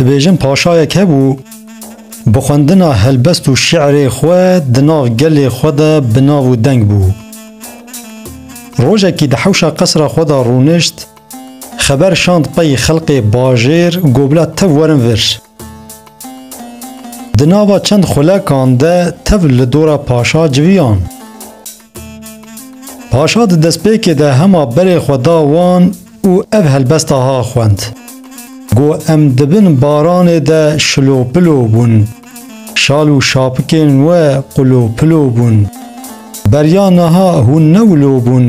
Dibêjin paşayek hebû bi xwendina helbest û şi'rê xwe di nav gelê xwe de bi nav û deng bû. Rojekî di hewşa qesra xwe de rûnişt, xeber şand pey xelqê bajêr got bila tev werin vir. Di nava çend xulekan de tev li dora paşa civiyan. Paşa di destpêkê de hema berê xwe da wan û ev helbesta ha xwend. Got em di bin baranê de şilopilo bûn, şal û şapikên we qulopilo bûn. Beriya niha hûn ne wilo bûn,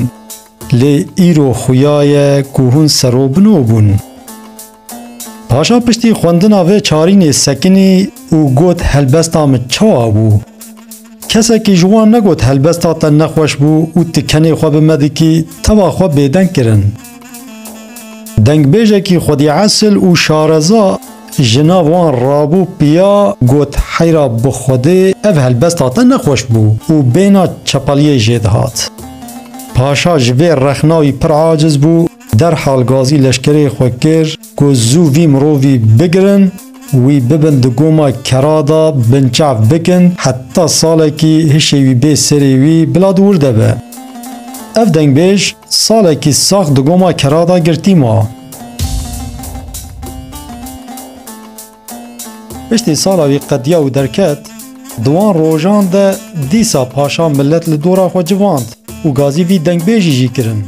lê îro xuya ye ku hûn serobino bûn. Paşa piştî xwendina vê çarînê sekinî û got helbesta min çawa bû? Kesekî ji wan negot helbesta te nexweş bû û tu kenê xwe bi me dikî teva xwe bêdeng kirin. Dengbêjekî xwedî esil û şareza ji nav wan rabû piya got heyra bi xwedê ev helbesta te nexweş bû û bêhna çepeliyê jê dihat. Paşa ji vê rexna wî pir aciz bû Derhal gazî leşkerê xwe kir ku zû vî mirovî bigirin, wî bibin di goma kera de binçav bikin heta salekî hişê wî bê serê wî bila di wir de be. Ev dengbêj salekî sax di goma kera de girtî ma. Piştî sala wî qediya û derket, di wan rojan de dîsa paşa milet li dora xwe civand û gazî vî dengbêjî jî kirin.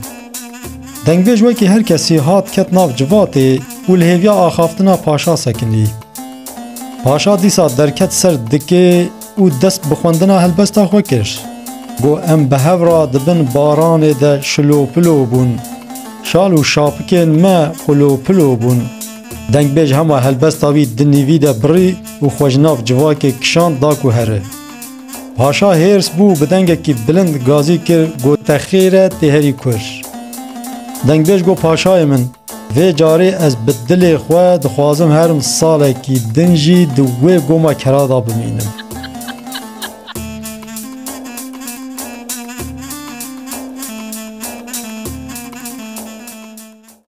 Dengbêj wekî her kesî hat ket nav civatê û li hêviya axaftina paşa sekinî. Paşa dîsa derket ser dikê û dest bi xwendina helbesta xwe kir. Got em bi hev re di bin baranê de şilopilo bûn, şal û şapikên me qulopilo bûn. Dengbêj hema helbesta wî di nîvî de birî û xwe ji nav civakê kişand da ku here. Paşa hêrs bû û bi dengekî bilind gazî kir got te xêr e tê herî kur. Dengbêj got paşayê min vê carê ez bi dilê xwe dixwazim herim salekî din jî di wê goma kera de bimînim.